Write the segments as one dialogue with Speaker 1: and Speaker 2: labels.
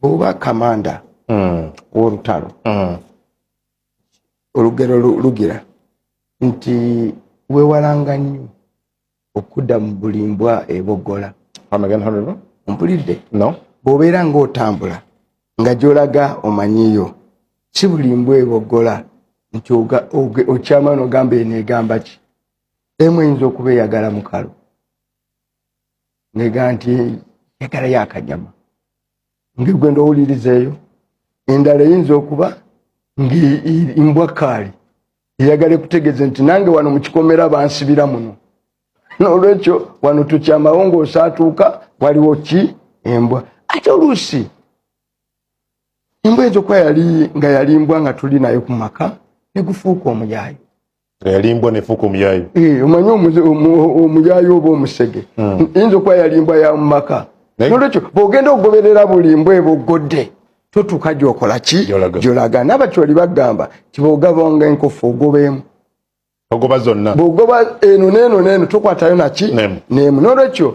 Speaker 1: bwoba kamanda mm. wolutalo mm. olugero lugira nti wewalanga nnyo okudda mu buli mbwa ebogola mpulidde no. bwobeera ngaotambula nga gyolaga omanyiyo si buli mbwa ebogola nti okyamano ogamba eno egamba ki emu eyinza okuba eyagala mukalo ngega nti yagala yakanyama ngegwenda owulirizeeyo endala eyinza okuba ngmbwa kaali eyagala ekutegeze nti nange wano mukikomera bansibira muno nolwekyo wano tukyamawo ngaosaatuuka waliwo ki embwa ate oluusi embwa enza okuba yali nga yali mbwa nga tuli nayo ku maka negufuuka omuyaayo yalimbwa
Speaker 2: nefuuka omuyayu eh,
Speaker 1: omanyi omuyayu oba omusege hmm. yinza okuba yalimbwa ya mumaka nolwekyo bwogenda okugoberera buli mbwa eba oggodde totuuka gyokola ki gyolaga nabakyoli bagamba tibogabanga enkofu ogobeemu ogoba
Speaker 2: zonna bwogoba eno neeno
Speaker 1: neeno tokwatayo naki neemu nolwekyo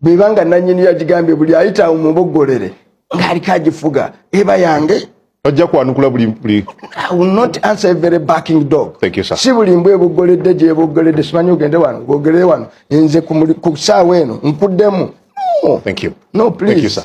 Speaker 1: bweba nga nanyini yagigambye buli ayita awo mubogolere ngaaliko agifuga eba yange ojja kwanukula
Speaker 2: buli buli i will not
Speaker 1: answer every backing dog thank you sir si buli mbwe
Speaker 2: bugoledde
Speaker 1: je bugoledde simanyi ogende wano bogere wano enze ku
Speaker 2: saawa eno nkuddemu
Speaker 1: no thank you no
Speaker 2: please
Speaker 1: thank you sir